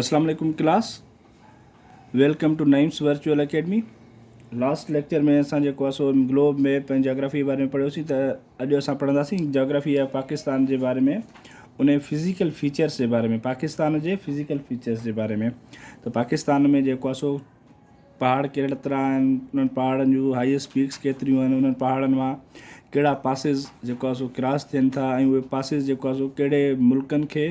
اسلام عليڪم class welcome to Naeem's virtual academy last lecture ۾ اسان جيڪو اسو گلوب ميپ ۽ جاگرافي بارے ۾ پڙھيوسين ته اڄ اسان پڙھنداسين جاگرافي آف پاڪستان جي باري ۾ ان فزيڪل فيچرس جي باري ۾ پاڪستان جي فزيڪل فيچرس جي باري ۾ ته پاڪستان ۾ جيڪو اسو پهاڙ ڪهڙا طرح آهن انهن پهاڙن جون هائيسٽ پيڪس ڪيتريون آهن انهن پهاڙن مان ڪهڙا پاسز جيڪو اسو ڪراس ٿين ٿا ۽ اهي پاسز جيڪو اسو ڪهڙي ملڪن کي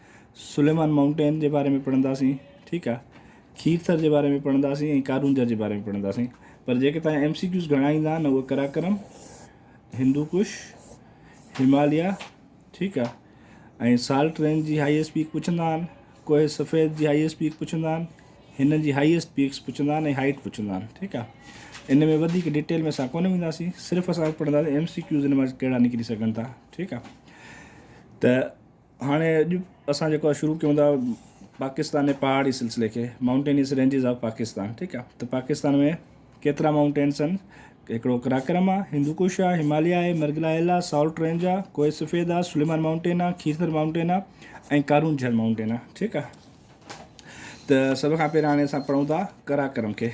سليمان مائونٽين جي باري ۾ پڙهنداسين ٺيڪ آ کير ٿر جي باري ۾ پڙهنداسين ۽ ڪارونجهر جي باري ۾ پڙهنداسين پر جيڪي توهان ايم سي ڪيوز گهڻا ايندا آهن اهي قراقرم هندو ڪش هماليا ٺيڪ آ ۽ سالٽ رينج جي هائيسٽ پيڪ پڇندا آهن ڪوهه سفيد جي هائيسٽ پيڪ پڇندا آهن هنن جي هائيسٽ پيڪس پڇندا آهن ۽ هائيٽ پڇندا آهن ٺيڪ آ ان ۾ وڌيڪ ڊيٽيل ۾ اسان ڪونه وينداسين صرف اسان پڙهنداسين ايم سي ڪيوز ان مان ڪهڙا نڪري سگهن ٿا ٺيڪ آ ته هاڻي اڄ اسان جيڪو آهي شروع ڪيون ٿا پاڪستان جي پهاڙي سلسلي کي مائونٽينيس رينجز آف پاڪستان ٺيڪ آهي ته پاڪستان ۾ ڪيترا مائونٽينس آهن هڪڙو قراقرم آهي هندو ڪوش آهي هماليه آهي مرگلا هل آهي سالٽ رينج آهي ڪوهي سفيد آهي سليمان مائونٽين آهي کيرٿر مائونٽين آهي ۽ ڪارون جھل مائونٽين آهي ٺيڪ آهي ته سڀ کان پهريان هاڻي اسان پڙهون ٿا قراقرم کي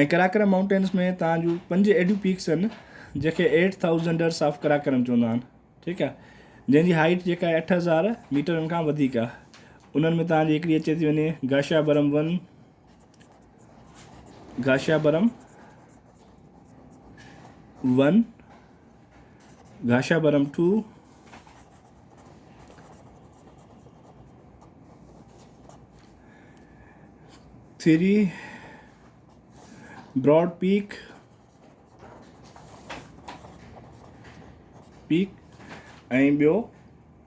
۽ قراقرم مائونٽينس ۾ تان جون پنج ايڏيون پيڪس آهن جنهن کي ايٽ ٿائوزنڊرس آف قراقرم چوندا آهن ٺيڪ آهي جنهن جي هائيٽ جيڪا آهي اٺ هزار ميٽرن کان وڌيڪ آهي انهن ۾ تان جي هڪڙي اچي ٿي وڃي گاشا برم ون گاشا برم one Gasherbrum two three broad peak peak ۽ ٻيو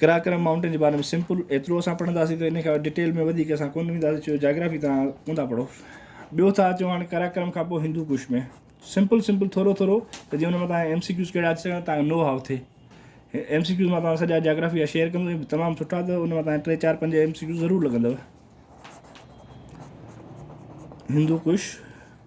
قراقرم مائونٽين جي باري ۾ سمپل ايترو اسان پڙهنداسين ته ان کان ڊيٽيل ۾ وڌيڪ اسان ڪونه وينداسين ڇو جو جاگرافي توهان اونداهه پڙهو ٻيو ٿا اچون هاڻي قراقرم کان پوء هندو ڪوش ۾ سمپل سمپل ٿورو ٿورو ته جيئن ان مٿان ايم سي ڪيوز ڪهڙا اچي سگهن تان جو نو هاء ٿئي ايم سي ڪيوز مٿان سڄا جاگرافي جا شيئر ڪندو تمام سٺا ته ان مٿان ٽي چار پنج ايم سي ڪيوز ضرور لڳندو هندو ڪوش